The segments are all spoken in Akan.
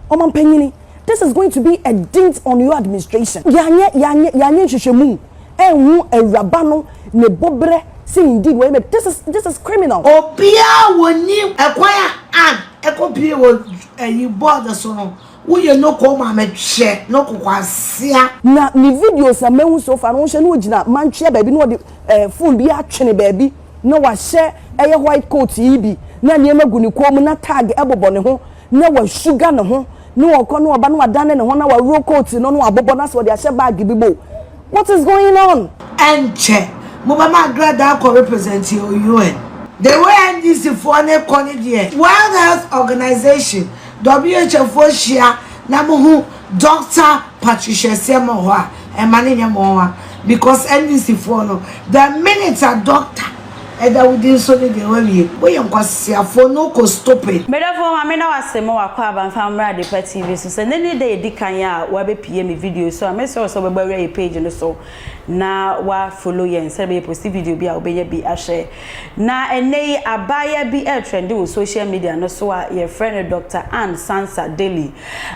Ɔmampanyini, this is going to be a dint on your administration. Yɛanyɛ, yɛanyɛ, yɛanyɛ nhwehwɛmu anhu awuraba no ne boberɛ sɛ indeed wɔyɛ bɛ, this is, this is criminal. Obiara wɔnim ɛkwan a Ann ɛkɔ pie wɔ ayi board so no, woyɛ no kɔɔ ma me hwɛ no kokoasia. Na ne videos a mahu so far no wohwɛ na ɔgyina mantwea baabi na ɔde eh, phone bi atwene baabi na wahyɛ ɛyɛ white coat yi bi na nneɛma gu ne kɔn mu na tag ɛbobɔ ne ho na wasuga ne ho ne ɔkɔ ne ɔba na wadane ne ho na waworo coat no na wabobɔ no asɛ ɔde ahyɛ bag bi mu what is going on. Ɛnkyɛ mo bɛma agradaa akɔ represent yɛn wɔ UN. The way NDC foɔ no rekɔ no deɛ, World Health Organization, WHOfoɔ hyia na mohu Doctor Patricia Asiamah wɔ hɔ a, ɛmma no nyɛ mo nwa because NDC foɔ no, the minute a doctor ɛda wo din so no deɛ wawie. Woyɛ nkwaseafoɔ no wokɔ stupid. Medɔfoɔ Maame da wo ase ma w'akɔ aba mfa mmrɛ Adepa TV so. Sɛ nnɛ ne da a ɛdi kan a w'abɛ pie me video so a, mɛsrɛ wo sɛ wobɛba wura yɛ page no so na w'a follow yɛn sɛdeɛ bɛyɛ post video bi a wobɛnya bi ahwɛ. Na ɛnnɛ yi abaayewa bi retrɛnde wɔ social media no so a yɛfrɛ no Doctor Anne Sansa Daly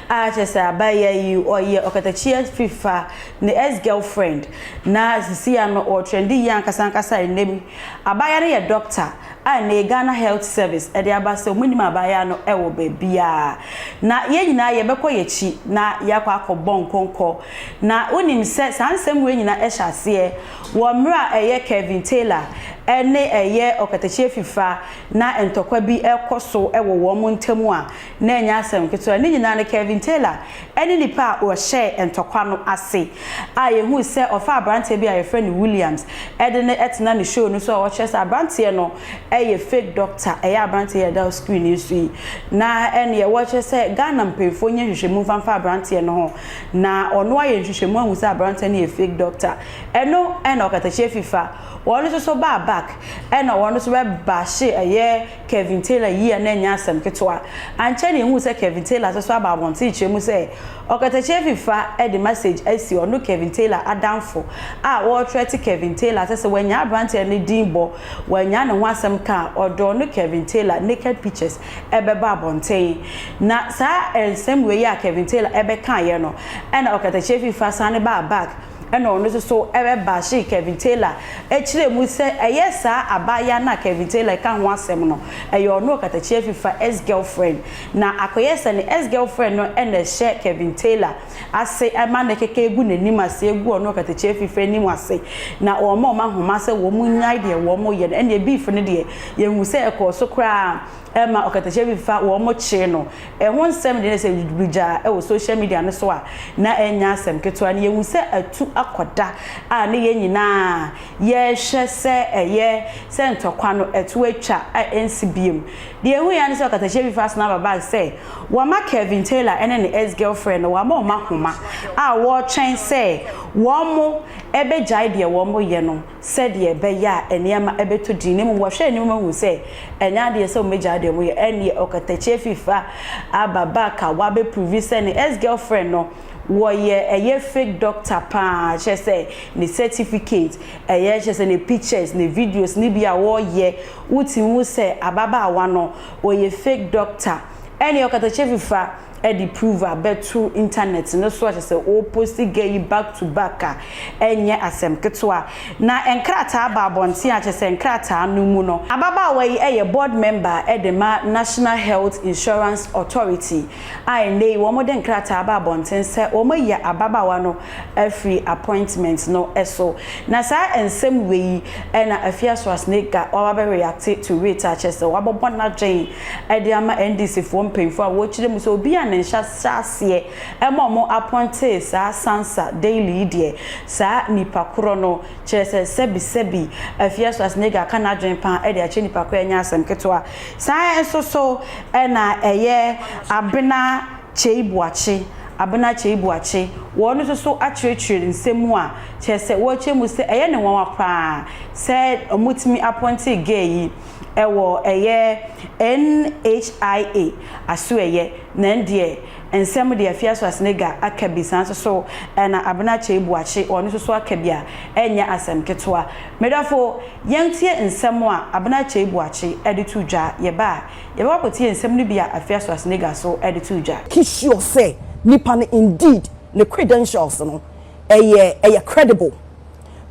a kyerɛ sɛ abaayewa yi ɔyɛ ɔkatakyiɛ fifa ne ex girlfriend na sisi a no ɔretrɛnde yie ankasa ankasa a ɛnnɛ yi abaayewa no yɛ doctor a ɛnnɛ yi Ghana Health Service ɛde aba sɛ wɔn nnim abaayewa no wɔ baabiara na yɛn nyinaa yɛbɛkɔ yɛn akyi na yɛakɔ akɔ bɔ nkɔnkɔ na wonim sɛ saa nsɛm wei nyinaa hyɛ aseɛ Wɔ mmerɛ a ɛyɛ Kevin Taylor ne ɛyɛ ɔkatakyie Fifa na ntɔkwa bi rekɔ so wɔ wɔn ntam a, na ɛnyɛ asɛm ketewa. Ne nyinaa no, Kevin Taylor ne nipa a ɔhyɛɛ ntɔkwa no ase a yɛhuu sɛ ɔfaa aberanteɛ bi a yɛfrɛ no Williams de no tenaa ne show no so a ɔkyerɛ sɛ aberanteɛ no yɛ fake doctor, ɛyɛ aberanteɛ yi a ɛda screen yi so yi. Na ɛnneɛ wɔkyerɛ sɛ Ghana mpaninfoɔ nyɛ nhwehwɛmu mfa mfa aberanteɛ no ho Na ɔno ayɛ nhwehwɛmu ahu sɛ aberanteɛ no yɛ fake doctor. Ɛno ɛna ɔkatakyie fifa. Wɔn nso so baa back ɛna wɔn nso bɛ bashe ɛyɛ Kevin Taylor yie a na ɛnyɛ asɛm ketewa. Ankyɛ na yɛhuu sɛ Kevin Taylor nso so aba abɔnten kyerɛ mu sɛ ɔkatakyie fifa de message asi ɔno Kevin Taylor adamfo a ɔretrɛte Kevin Taylor sɛ sɛ wannyaa aberanteɛ no din bɔ, wannyaa ne ho asɛm ka a, ɔde ɔno Kevin Taylor naked pictures bɛba abɔnten. Na saa nsɛm wei a Kevin Taylor bɛkaeɛ no, ɛna ɔkatakyie Fifa sane baa back ɛna ɔno nso so bɛbashee Kevin Taylor kyerɛɛ mu sɛ ɛyɛ saa abaayewa no a Kevin Taylor reka ho asɛm no, ɛyɛ ɔno ɔkatakyie Fifa ex-girlfriend. Na akɔyɛ sɛ ne ex-girlfriend no na ɛhyɛ Kevin Taylor. ase ma ne kɛkɛ agu n'anim ase agu ɔne ɔkatakyie afifire anim ase na wɔma wɔn ahoma sɛ wɔn nnyae deɛ wɔn yɛ no ɛnneɛ beef no deɛ yɛhu sɛ ɛkɔɔ so koraa ma ɔkatakyie bi fa wɔn kyee no ɛho nsɛm deɛ sɛ bigya ɛwɔ social media no so a na ɛnyɛ asɛm ketewa no yɛhu sɛ atu akɔda a ne yɛn nyinaa yɛhwɛ sɛ ɛyɛ sɛ ntɔkwa no atu atwa a ɛnsi biem deɛ ɛhu yɛn ne sɛ ɔkatakyie bi fa asena aba bag sɛ Wɔama Kelvin Taylor ne ne ex-girlfriend no wɔama wɔn ahoma a wɔretwɛn sɛ wɔbɛgyae deɛ wɔyɛ no sɛdeɛ ɛbɛyɛ a nneɛma bɛtɔ din na mmom wɔhwɛ anim ma hu sɛ ɛnyɛ adeɛ sɛ wɔbɛgyae deɛ wɔyɛ ɛnneɛ ɔkatakyie fifa aba back a wabɛ prove sɛ ne ex-girlfriend no wɔyɛ ɛyɛ fake doctor paa kyerɛ sɛ ne certificate ɛyɛ kyerɛ sɛ ne pictures ne videos no bi a wɔyɛ wotumi hu sɛ ababaawa no Ɔyɛ fake doctor ɛne ɔkatakyɛ fifa ɛde prove abɛto internet no so akyɛ sɛ ɔposti gɛ yi back to back a ɛnyɛ asɛm ketewa na nkrataa aba abɔnten akyɛ sɛ nkrataa no mu no ababaawa yi ɛyɛ board member ɛde ma national health insurance authority a ɛnɛ yi wɔn de nkrataa aba abɔnten sɛ wɔn ayi ababaawa no afiri appointment no so. Na saa nsɛm wei yi na Afia Schwarzenegger waba bɛ reacte to it a kyerɛ sɛ wabɔbɔ n'adwen de ama NDC foɔ mpanyinfoɔ a wɔkyerɛ mu sɛ obi a ne nhyɛ aseɛ ma wɔn appointee saa Sansa Daly yi deɛ saa nipa korɔ no kyerɛ sɛ sɛbi sɛbi Afia Schwarzenegger aka n'adwen paa de akyerɛ nipa korɔ ɛnyɛ asɛm ketewa. Saa nso so na ɛyɛ Abena Kyei Boakye, Abena Kyei Boakye, wɔn no nso so akyerɛkyerɛ nsɛm mu a kyerɛ sɛ wɔkyerɛ mu sɛ ɛyɛ no nwanwa paa sɛ wɔtumi apɔntee gay yi wɔ ɛyɛ NHIA asoɛyɛ na ɛn deɛ nsɛm deɛ Afia Suasenega aka bi saa nso so na Abena Kyei Boakye wɔn nso so aka bi a ɛnyɛ asɛm ketewa. Medɔfo, yɛn tie nsɛm a Abena Kyei Boakye de to dwa, yɛba a Yɛbɛkɔ akɔtie nsɛm no bi a Afia Schwarzenegger so de too dwa. He sure sɛ nipa no indeed ne credentials no ɛyɛ ɛyɛ credible.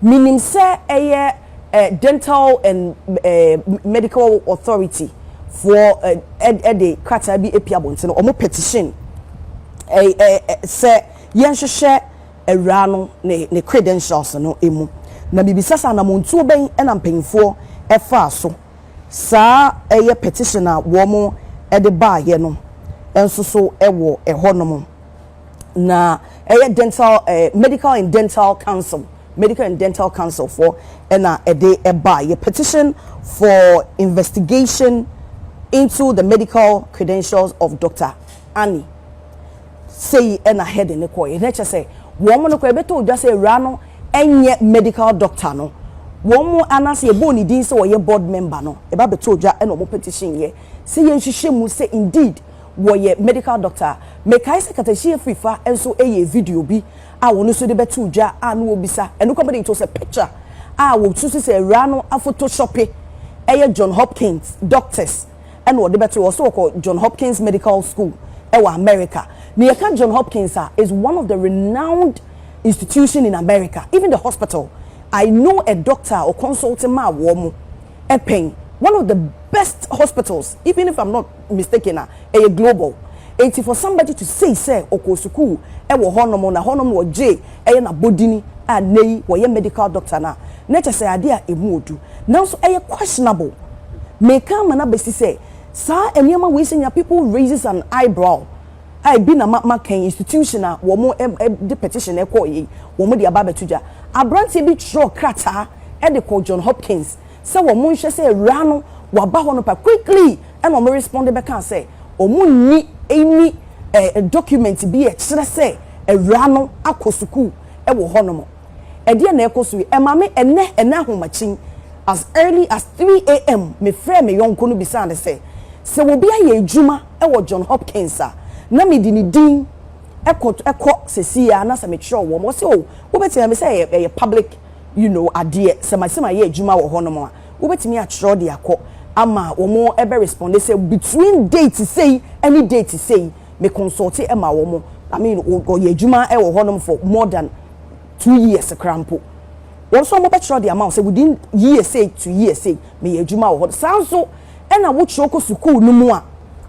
Menim sɛ ɛyɛ eh Dental and eh Medical Authority foɔ eh ɛde krataa bi apia abɔntene, ɔmo petition eh eh sɛ yɛnhwehwɛ awuraa no ne ne credentials no mu. Na mebisa sɛ anamontuo bɛn ɛna mpanyinfoɔ ɛfaa so. Saa ɛyɛ petition a wɔn de baeɛ no nso so wɔ ɛhɔ nom. Na ɛyɛ dental eh, medical and dental council medical and dental council foɔ ɛna ɛde ɛbaeɛ petition for investigation into the medical credentials of Doctor Annie. Sei na Hedy no kɔeɛ. Na kyerɛ sɛ, wɔn no koraa ɛbɛtɔ dwa sɛ awuraa no nyɛ medical doctor no. Wɔn anaasɛ yɛbɔɔ ne din sɛ ɔyɛ board member no, ɛba bɛtɔɔ dwa na wɔn petition yɛ sɛ yɛnhwehwɛ mu sɛ indeed wɔyɛ medical doctor a. Mekae sɛ Katakyi Afrifa nso yɛɛ video bi a wɔn nso de bɛtoo dwa a na wɔbisa, ɛno koraa mede, it was a picture a wɔsusu sɛ awuraa no afotoshope, ɛyɛ John Hopkins doctors. na wɔde bɛto yɛn. Ɔsɛ ɔkɔ John Hopkins Medical School wɔ America. Na yɛka John Hopkins a, is one of the renowned institution in America, even the hospital. I know a doctor a ɔconsulte maa wɔn pɛn. One of the best hospitals, even if I'm not mistaken a, ɛyɛ global. Enti for somebody to say sɛ ɔkɔɔ sukuu wɔ hɔnom na hɔnom na ɔgyee Ɛyɛ n'abɔdini a nnɛ yi wɔyɛ medical doctor no a, na kyerɛ sɛ adeɛ a ɛmu wɔ du. Nanso ɛyɛ questionable. Meka ama no abɛsi sɛ saa nneɛma wei sɛ nea people raises an eyebrow a ɛbi na ma maka yi, institution a wɔde petition ɛkɔeɛ yi, wɔde aba abɛto dwa. Aberanteɛ bi twerɛɛ krataa de kɔɔ John Hopkins sɛ wɔnhwɛ sɛ awuraa no waba hɔ no pa. Quickly na wɔrespɔnde bɛkaa sɛ wɔnni any document bi a ɛkyerɛ sɛ, awuraa no akɔ sukuu wɔ hɔnom. Ɛdeɛn na ɛrekɔ so yi? Ɛma me ɛnnɛ, ɛnnɛ ahomakyin, as early as 3am, mefrɛɛ me yɔnko no bisaa no sɛ, sɛ obi ayɛ adwuma wɔ John Hopkins a, na mede ne din kɔ, kɔ seesei ara, na sɛ mekyerɛw wɔn, ɔse, oh, wobɛtumi ayɛ, mesɛ ɛyɛ, ɛyɛ public, you know, adeɛ, sɛ ma, sɛ mayɛ adwuma wɔ hɔnom a, wobɛtumi akyerɛw de akɔ, ama wɔn ɛbɛ respond sɛ between date sei ne date sei, me consult ma wɔn I mean ɔyɛ adwuma wɔ hɔ nom for more than two years koraa mpo wɔn nso wɔn bɛkyerɛ de ama wo sɛ within year sei to year sei meyɛ adwuma wɔ hɔ saa nso ɛna wokyerɛ kɔ sukuu no mu a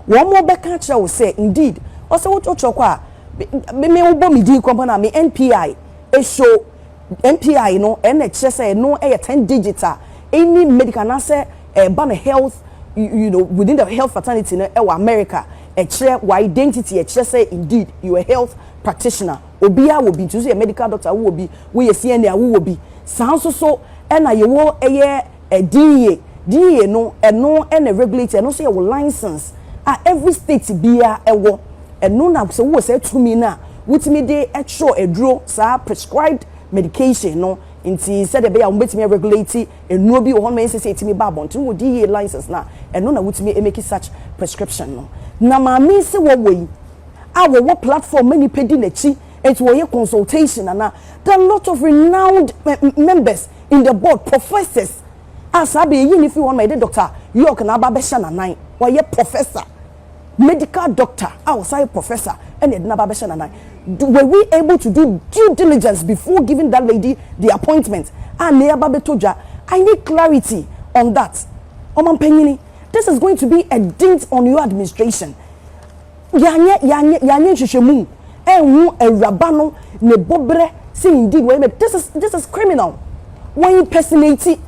wɔn bɛka akyerɛ wo sɛ indeed ɔsɛ wokyerɛ kɔ a me me wobɔ me din kɔmpa na me NPI ɛso. MPI no, ɛnna ɛkyerɛ sɛ ɛno yɛ ten digits a any medical anaasɛ ɛba no health you know within the health fraternity no wɔ America. Ɛkyerɛ w'identity, ɛkyerɛ sɛ indeed you are a health practitioner. Obiara wɔ bi, nti wo nso yɛ medical doctor a wowɔ bi, woyɛ CNA a wowɔ bi. Saa nso so na yɛwɔ ɛyɛ. DEA, DEA no ɛno na regulate ɛno nso yɛ wo license a every state biara ɛwɔ ɛno na sɛ wowɔ saa tumi no a wotumi de kyerɛ aduro saa prescribed medication no nti sɛdeɛ ɛbɛyɛ a wɔbɛtumi aregulate nnuro bi wɔ hɔ no ɛnsɛ sɛ ɛtumi ba abɔnten wɔ DEA license no a ɛno na wotumi ɛmɛki such prescription no na maame se wɔwɔ yi a wɔwɔ platform ma nipa di n'akyi Enti wɔyɛ consultation anaa? There are lot of renowned members in the board, professors a saa bɛ yɛyi no firi hɔ ma yɛde Doctor York na aba abɛhyɛ n'anan. Wɔyɛ professor, medical doctor a ɔsan yɛ professor ɛna yɛde no aba abɛhyɛ n'anan. Were we able to do due diligence before giving that lady the appointment a na yɛaba bɛtɔ dwa? I need clarity on that. Ɔmampanyini, this is going to be a dint on your administration. Yɛanyɛ, yɛanyɛ, yɛanyɛ nhwehwɛmu anhu Awuraba no ne bɔberɛ sɛ indeed wɔyɛ murder. This is, this is criminal. Wɔ impersonate,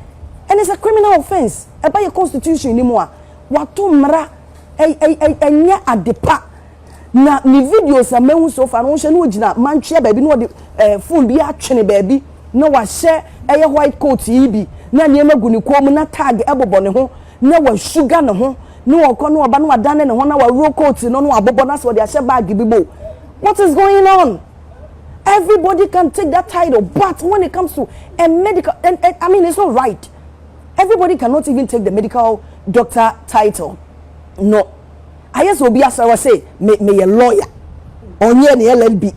and it's a criminal offence. Ɛba yɛ constitution no mu a, wato mmara, ɛ, ɛ, ɛ, ɛnyɛ ade pa. Na ne videos a mahu so far no, wohwɛ na ogyina mantwea baabi na ɔde eh, phone bi atwene baabi na wahyɛ ɛyɛ white coat yi bi na nneɛma gu ne kɔn mu na tag ɛbobɔ ne ho na wasuga ne ho ne ɔkɔ ne ɔba na wadane ne ho na waworo coat no na wabobɔ na sɛ ɔde ahyɛ bag bi mu what is going on everybody can take that title but when it comes to a medical and, and i mean it's not right everybody cannot even take the medical doctor title no ayɛ sɛ obi asra wɔ se meyɛ lawyer ɔnyɛ ne llb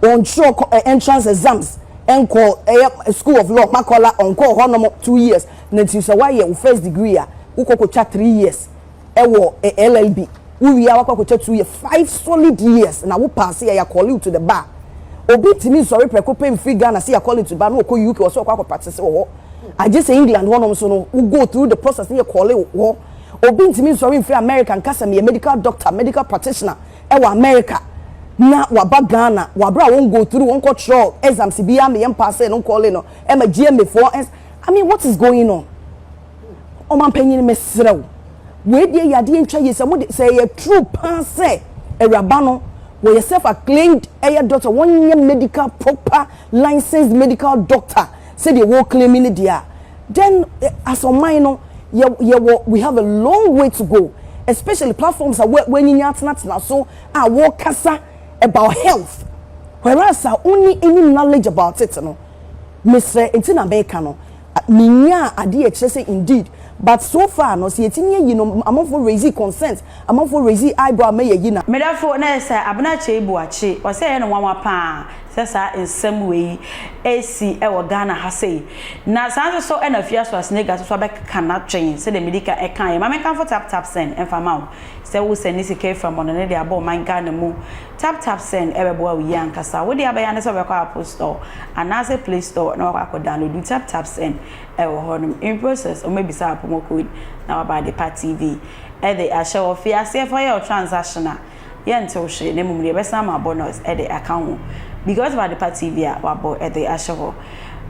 ɔntwerɛ eh, entrance exams ɛnkɔ ɛyɛ eh, school of law makɔla ɔnkɔ hɔnom two years Na nti sɛ woayɛ wo first degree a, wokɔ kɔtwa three years wɔ LLB. Wowie a, woakɔ akɔtwa two years, five solid years na wo paase a, yɛakɔle wo to the bar. Obi ntumi nsɔre prɛko pɛ mfiri Ghana sɛ yɛakɔle no to the bar na ɔkɔ UK ɔsɛ ɔkɔ akɔ practice wɔ hɔ. Agye sɛ England hɔnom nso no, wo go through the process na yɛkɔle wo hɔ. Obi ntumi nsɔre mfiri America nka sɛ meyɛ medical doctor, medical practitioner wɔ America na waba Ghana, wɔ aberɛ a wɔn go through, wɔnkɔtwerɛɛ exams biara, meyɛ mpaasee no nkɔle no ma GMAfoɔ, I mean what is going on ɔmanpanyin mesrɛ wo wei deɛ yɛ adeɛ ntwa yie sɛ mo de sɛ ɛyɛ true paa sɛ awuraba no wɔyɛ self acclaimed ɛyɛ doctor wɔnyɛ medical proper licensed medical doctor sɛdeɛ wɔreclaim ne deɛ a then eh, as ɔman no yɛ yɛwɔ we have a long way to go especially platforms a wɔ- wɔanyinya atenatena so a wɔrekasa about health whereas a wonni any knowledge about it no Mesrɛ nti na meka no menyaa adeɛ a ɛkyerɛ sɛ indeed but so far no sɛ yɛtumi ayi no amanfoɔ raise consent amanfoɔ raise eyebrow ma yɛyi no a. Medafo na yɛ sɛ Abena Kyei Boakye, ɔse ɛyɛ no nwanwa paa sɛ saa nsɛm wei resi wɔ Ghana ha sei. Na saa nso so na Afia Swasnega nso so abɛkeka n'adwene sɛdeɛ medi ka ɛkaeɛ. Ma menkamfo Tap Tap Send mfa ma wo sɛ wo sɛne sika afiri amɔnɔne de abɔ ɔman Ghana mu Tap Tap Send bɛboa wo yie ankasa. Wo deɛ abɛyɛ ara ne sɛ wobɛkɔ Apple Store anaasɛ Play Store na wakɔ akɔ downloadu Tap Tap Send wɔ hɔ nom. In process, wɔbɛbisa wo promo code na waba adepa TV de ahyɛ hɔ. Fi aseɛ fa yɛ wo transaction a, yɛnte wo hwee na mmom deɛ yɛbɛsan ama wo bonus de aka ho because of adepa TV a wabɔ de ahyɛ hɔ.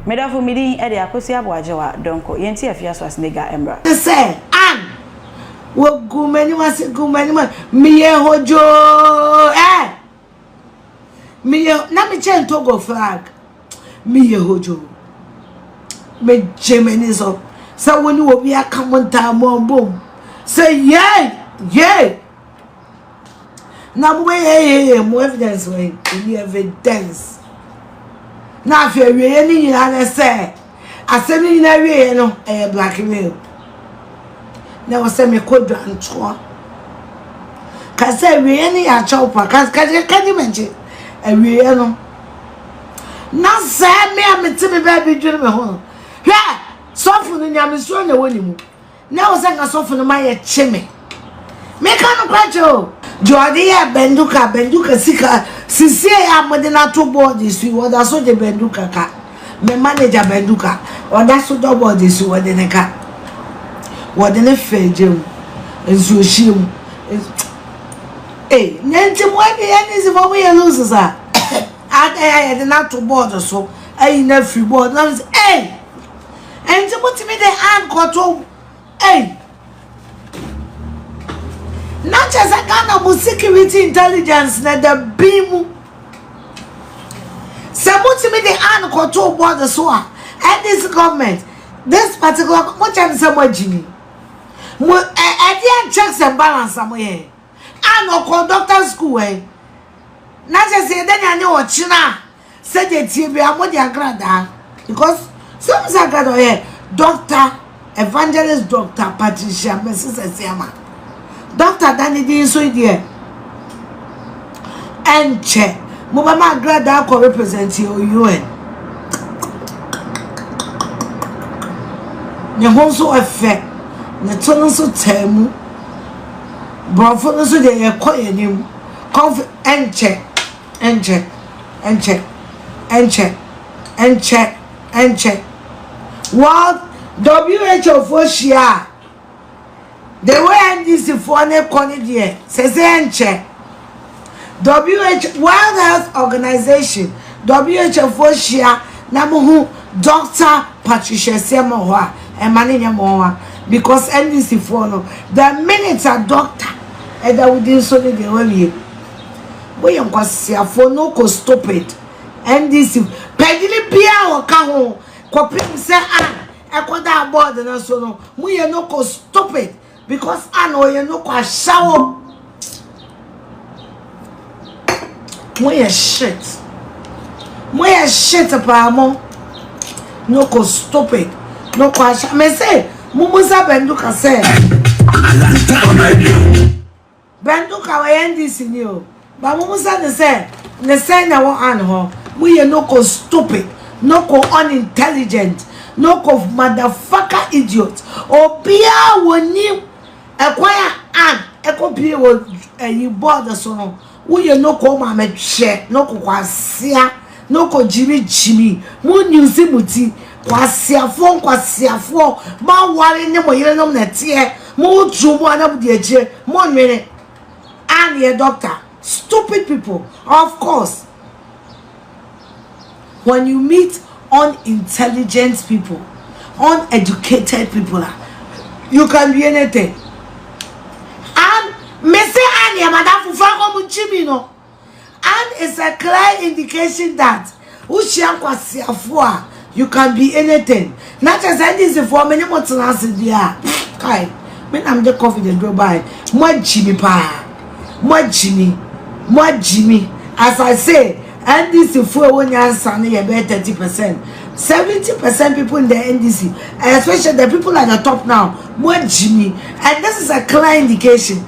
Me dɔfo, me din de Akosua Boagyewa Donkor. Yɛnti afi asoa Senegal mmra. Te sɛ Ann. Wɔgu m'anim ase gu m'anim a meyɛ hodwoo ɛ eh! meyɛ na mekyɛ ntogo flag meyɛ hodwoo megye m'ani so sɛ wo ne obi aka mo ntaa mo abom sɛ yei yei na mobɛyɛyɛyɛ mo evidence wɔ ɛni evidence na afei awieɛ no nyinaa ne sɛ asɛm no nyinaa awieɛ no ɛyɛ blackmail na wɔ sɛ mekɔ dwantoɔ ka sɛ awieɛ no yɛ akyɛw pa kagye mɛgye awieɛ no na sɛ me a mete me baabi dwene me ho hwɛ sɔfo no nyamesuro na ɛwɔ ne mu Na ɛwɔ sɛ nka sɔfo no ma yɛkye me. Meka nokorɛ kyerɛ o. Deɛ ɔde yɛɛ Banduka, Banduka sika, sesie a mode no ato board so yi, ɔda so de Banduka ka. Me manager Banduka, ɔda so dɔ board so yi, ɔde no ka. Wɔde no fa egya mu, nsuohyeɛ mu. Ei, na nti mo NDC fo mo yɛ loose saa. Adɛn a yɛde no ato board so, ayi no afiri board, na mo sɛ ei, Enti motumi de an kɔtom ei na kyɛ sɛ Ghana mu security intelligence na da bin mu sɛ motumi de an kɔto board so a NDC government this particular mo kyɛ no sɛ moagyimi mo ɛdeɛ and checks and balance a moyɛ an ɔkɔ doctor school ɛ na kyɛ sɛ yɛda nyane ɔkyena a Sɛdeɛ ɛteɛ biara mo de agradaa because sɛ wohu sɛ agradaa ɔyɛ Doctor Evangelist Doctor Patricia Mrs Asiamah Doctor da ne din so yi deɛ ɛnkyɛ mobɛma agradaa kɔ represent yɛ UN ne ho nso ɛfɛ ne to no nso taa mu borɔfo no nso deɛ yɛkɔ yɛn anim kɔnf ɛnkyɛ Ɛnkyɛ, ɛnkyɛ, ɛnkyɛ, ɛnkyɛ, ɛnkyɛ. World WHO foɔ hyia a, the way NDC foɔ ne kɔ ne deɛ, sɛ sɛ ɛnkyɛ. WH World Health Organization, WHO foɔ hyia na mo ho Dr. Patricia Asiam wɔ hɔ a, ɛma ne nyɛ mo nwa. Because NDC foɔ no, the minute a doctor ɛda wo din so ne deɛ wawie. Mo yɛ nkwaseafoɔ no kɔ stupid NDC panyini biara a ɔka ho kɔpem sɛ an ɛkɔ da board no so no mo yɛ no kɔ stupid because an ɔyɛ no kɔ ahyɛwo mo yɛ shit mo yɛ shit paa mo no kɔ stupid no kɔ ahyɛ me se mo mo sɛ bɛndu ka sɛ Bɛnduka ɔyɛ NDC ni o but mo mo sɛ no sɛ ne sɛn na ɛwɔ Ann hɔ mo yɛ no ko stupid no ko unintelligent no ko motherfucker idiot obia wɔ nim ɛkwan a Ann ɛkɔ pie wɔ ɛyi board so no wo yɛ no ko ma me hwɛ no ko kwasia No kɔ gyimi gyimi mo newsi mo ti kwaseafoɔ nkwaseafoɔ mo aware ne mo yere nom na ɛteɛ mo tuu mo ana mo di akyire mo nwene aneɛ doctor stupid people of course when you meet unintelligent people uneducated people a you can be anything an mese aneɛ madamfo fa kɔ mo gyimi no. And it's a clear indication that wohyia nkwaseafoɔ a you can be anything na kyerɛ sɛ ndc foɔ me ne mo tena ase deɛ a kae me na mede covid aduro bae mo agyi me paa mo agyi me mo agyi me as i say ndc foɔ ɛwɔ nyansa no yɛ bɛyɛ thirty percent seventy percent people in the ndc especially the people at the top now mo agyi me and this is a clear indication.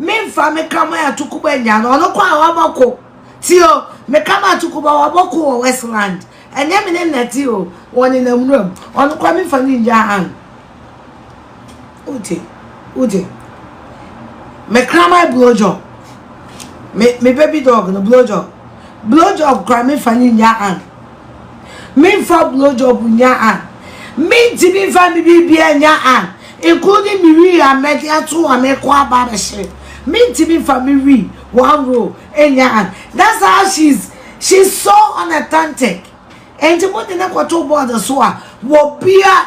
Memfa me kraman atoko ba nya no, ɔno kɔ a wabɔko. Ti o, me kraman atoko ba wabɔko wɔ Westland. Ɛnyɛ me ne nnɛte o, wɔnenam nwura mu. Ɔno kɔ a memfa no nya an. Wote, wote. Me kraman blowjob. Me, me baby dog no blowjob. Blowjob kɔ a memfa no nya an. Menfa blow job nnya a, mentumi mfa me biribiara nnya a, including me wii a mɛde ato a mekɔ aba abɛhyɛ, mentumi mfa me wii one roll nnya a. That's how she's she's so unauthentic. Enti mode no kɔto board so a, wɔ bia.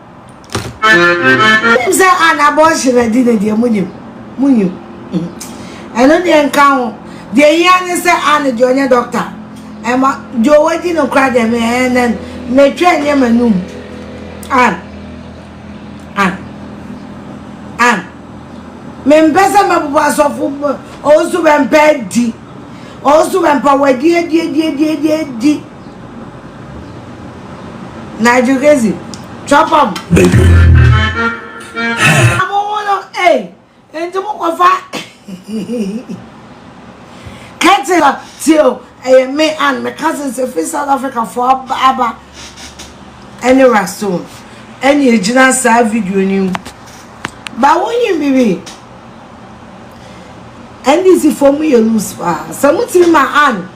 Wonim sɛ an abortion adi no deɛ monim, monim. Ɛno deɛ nka ho. Deɛ hia ne sɛ an deɛ ɔnyɛ dɔkta. Ɛma deɛ ɔwadi no koraa deɛ me ɛn ɛn metwɛn nyɛ m'anum. An. An. An. Mempɛ sɛ mɛbobɔ asɔfo ɔnso bɛmpɛ adi. Ɔnso bɛmpɛ wadi adi adi adi adi adi. Nigel Gezi, trap am. Baby. Amo ho no, eh, enti mo kɔ fa. Kɛtila, tio, ɛyɛ me and me cousins efi South Africa fo aba aba. Ɛne Rastone, ɛne egyina saa video ni mu. Ba wo nyi bibi. NDC fo mu yɛ loose pa. Sɛ mo tiri ma an.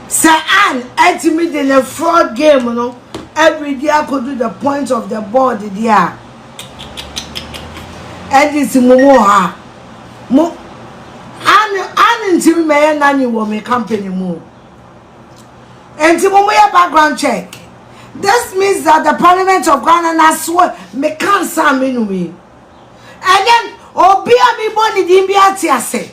Sɛ Ann atumi de ne fraud game no abiridi akodu the point of the board deɛ a, ɛnde sɛ mo mu ɔha mo Ann Ann ntumi mɛyɛ nanny wɔ me company mu o. Enti mo mo yɛ background check. This means that the parliament of Ghana na so me cancer me numi. And then obi a me bɔ ne din bi ate ase.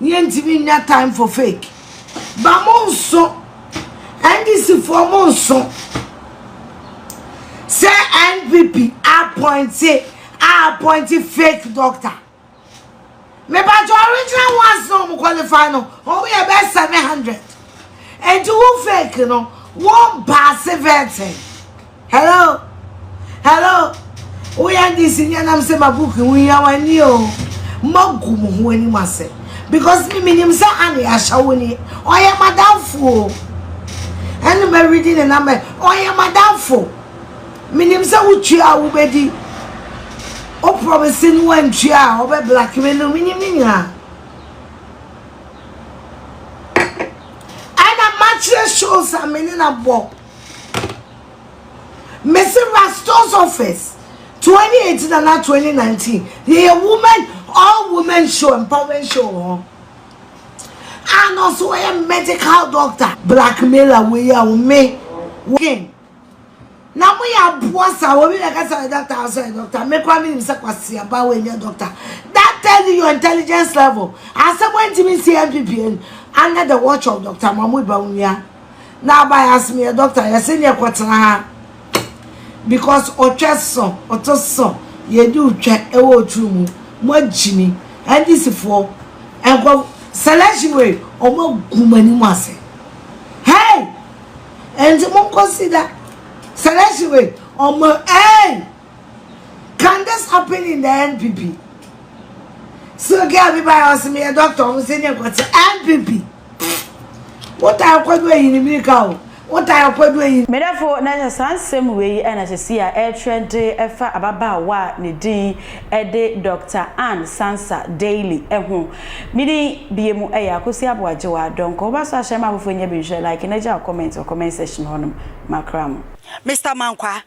Yɛntumi nnya time for fake. Ba mo nso, NDC foɔ mo nso, sɛ NPP appointe a appointe fake doctor. Me ba to original ones no mo qualify no, wɔn yɛ bɛ 700. Enti wo fake no, wɔn baase vetting. Hello hello wo yɛ ndc ni anam sɛ ma book ho hia wa ni o ma gu mo ho anim ase because me minim sɛ ane ahyɛwo ni ɔyɛ madamfo o ɛne ma redi ne namba ɔyɛ madamfo minim sɛ wotua a wobɛdi o promise no wantua a ɔbɛ black me no minim ne nyinaa ɛna makyerɛ shows a mene na bɔ Mese Rasto's office 2018 anaa 2019 yɛyɛ women all women show empowering show wɔ hɔ a na ɔso wɔyɛ medical doctor blackmailer wei a wo me wokin na mo yɛ aboa sa wɔ bi na ɛka sɛ doctor ɔsɛ yɛ doctor me kora menim sɛ kwasi aba wɔ nyɛ doctor that tell you your intelligence level asɛm wɔntumi nsi MPPN under the watch of doctor Mahmoud Bawumia na aba yɛ asem yɛ doctor yɛ se neɛ kɔtena ha because ɔtwɛ so ɔto so yɛdi otwɛ ɛwɔ oturu mu mo agyimi ndc foɔ nkɔ selection wei ɔmo agu mo anim ase hey ɛnti mo nkɔ si da selection wei ɔmo hey can this happen in the npp so gɛ abiba yɛ ɔsem yɛ doctor ɔmo se neɛ kɔtena npp Eh! Wo taa Ɔkwadu Ayini me ka o, wo taa Ɔkwadu Ayini. Me dɔfo, na ɛsɛ saa nsɛm wei yi na sɛsi a ɛretrɛ de fa ababaawa a ne din de Doctor Ann Sansa Daly ho. Me din bie mu yɛ Akosi Aboagyewa Donkor. Wo ba so ahyɛ ma afoforɔ nya bi nhwɛ, like na gya wo comment wɔ comment section hɔ nom. Makra mo. Mister Mankwaa,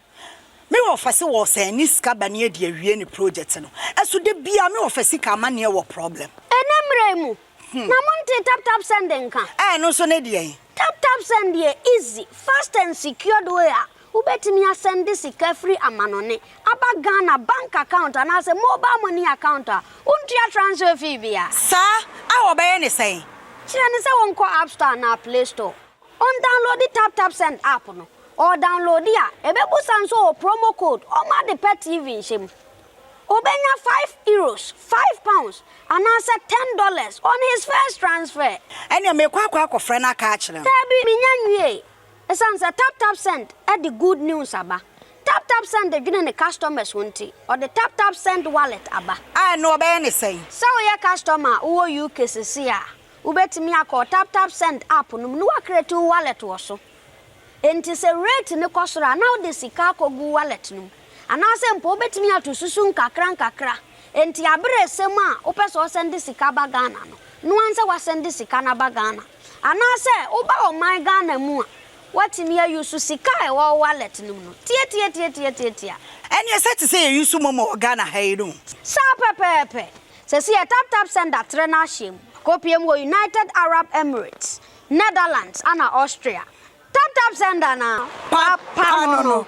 me wɔ fɛse wɔ sɛ ne sika ba ne adi awie ne project no ɛso da biaa me wɔ fɛ sika amanneɛ wɔ problem. Ɛnɛ mmra yi mu, Na mo ntee tap tap send nka? Ɛɛ ɛno nso ne deɛn? Tap tap send yɛ easy, fast and secured way a wobɛtumi asɛnde sika firi amanɔne aba Ghana bank account anaasɛ mobile money account a wontua transfer fee biara. Saa a wɔbɛyɛ ne sɛn? Kyerɛ no sɛ wɔnkɔ app store anaa play store, ɔndownloadi tap tap send app no, ɔɔdownloadi a ɛbɛbusa nso ɔwɔ promo code ɔma ade pa TV nhyɛ mu. Obenya five euros, five pounds, anaasɛ ten dollars on his first transfer. Ɛnneɛ merekɔ akɔ akɔfrɛ no aka akyerɛ no. Daabi, mennya nwiei. Esiane sɛ TapTapSend de good news aba, TapTapSend dwene ne customers ho nti, ɔde TapTapSend Wallet aba. A, ɛnneɛ wɔbɛyɛ no sɛn? Sɛ woyɛ customer a wowɔ UK seesei a, wobɛtumi akɔ TapTapSend app no mu na woacreate wo wallet wɔ so. Enti sɛ rate no kɔ soro a, na wode sika akɔgu wallet no mu. Anaasɛ mpo wobɛtumi ato susu nkakrankakra. Enti aberɛ resɛm a wopɛ sɛ ɔsɛnde sika ba Ghana no, noa nsɛ wasɛnde sika no aba Ghana. Anaasɛ woba ɔman Ghana mu a, woatumi a use sika a ɛwɔ wo wallet no mu no. Tiatiatiatiatiatia. Ɛneɛ sɛ te sɛ yɛ use momo wɔ Ghana ha yi no. Saa pɛpɛɛpɛ. Sɛsi yɛ taptapsend atrɛ no ahyɛm. Akɔpie mu wɔ United Arab Emirates. Netherlands ana Austria? Tap tap send ana papa no no.